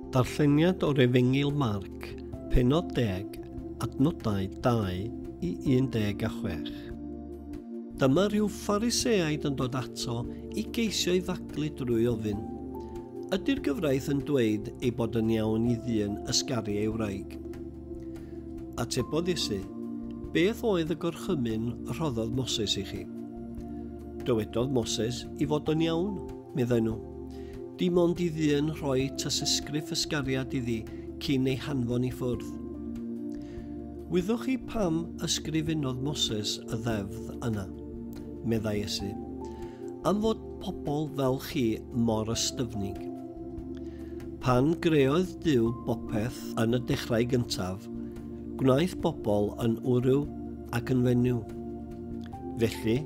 Darlleniad o'r Efengyl Marc, pennod 10, adnodau 2 i 16. Dyma rhyw Phariseaid yn dod ato i geisio ei faglu drwy ofyn, Ydy'r gyfraith yn dweud ei bod yn iawn i ddyn ysgaru ei wraig? Atebodd Iesu, Beth oedd y gorchymyn rhoddodd Moses i chi? Dywedodd Moses i fod yn iawn Meddai nhw. Dim ond i ddyn rhoi tysysgrif ysgariad iddi cyn ei hanfon i ffwrdd. Wyddoch chi pam ysgrifennodd Moses y ddefdd yna? Meddai Esu. Am fod pobl fel chi mor ystyfnig. Pan greoedd Dyw bopeth yn y dechrau gyntaf, gwnaeth bobl yn wryw ac yn fenyw. Felly,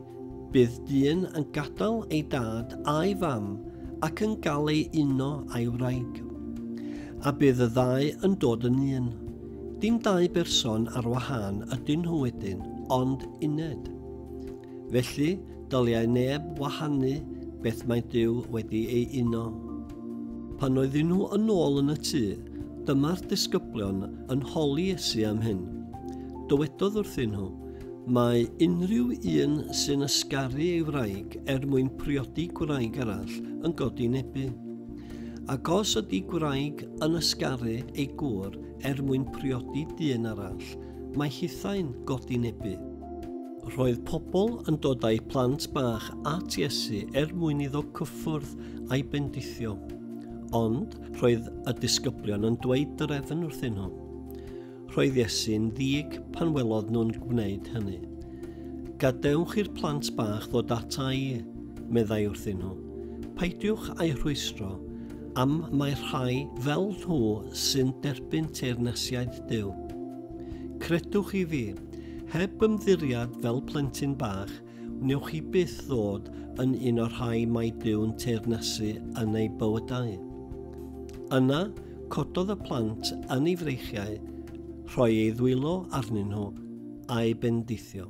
Bydd dyn yn gadael ei dad a'i fam ac yn gael ei uno a'i wraig. A bydd y ddau yn dod yn un. Dim dau berson ar wahân ydyn nhw wedyn, ond uned. Felly, dyliau neb wahanu beth mae Duw wedi ei uno. Pan oedden nhw yn ôl yn y tŷ, dyma'r disgyblion yn holi Iesu am hyn. Dywedodd wrthyn nhw, Mae unrhyw un sy'n ysgaru ei wraig er mwyn priodi gwraig arall yn godi nebu. Ac os ydy gwraig yn ysgaru ei gŵr er mwyn priodi dyn arall, mae hithau'n godi nebu. Roedd pobl yn dod â'i plant bach at Iesu er mwyn iddo cyffwrdd a'i bendithio. Ond roedd y disgyblion yn dweud drefn wrthyn nhw. Roedd Iesu'n ddig pan welodd nhw'n gwneud hynny. Gadewch i'r plant bach ddod ata i, meddai wrthyn nhw. Peidiwch â'i rhwystro, am mae rhai fel nhw sy'n derbyn teyrnasiaid Duw. Credwch i fi, heb ymddiriad fel plentyn bach, Wnewch chi byth ddod yn un o'r rhai mae Dyw'n teyrnasu yn eu bywydau. Yna, cododd y plant yn ei freichiau, rhoi ei ddwylo arnyn nhw, a'i bendithio.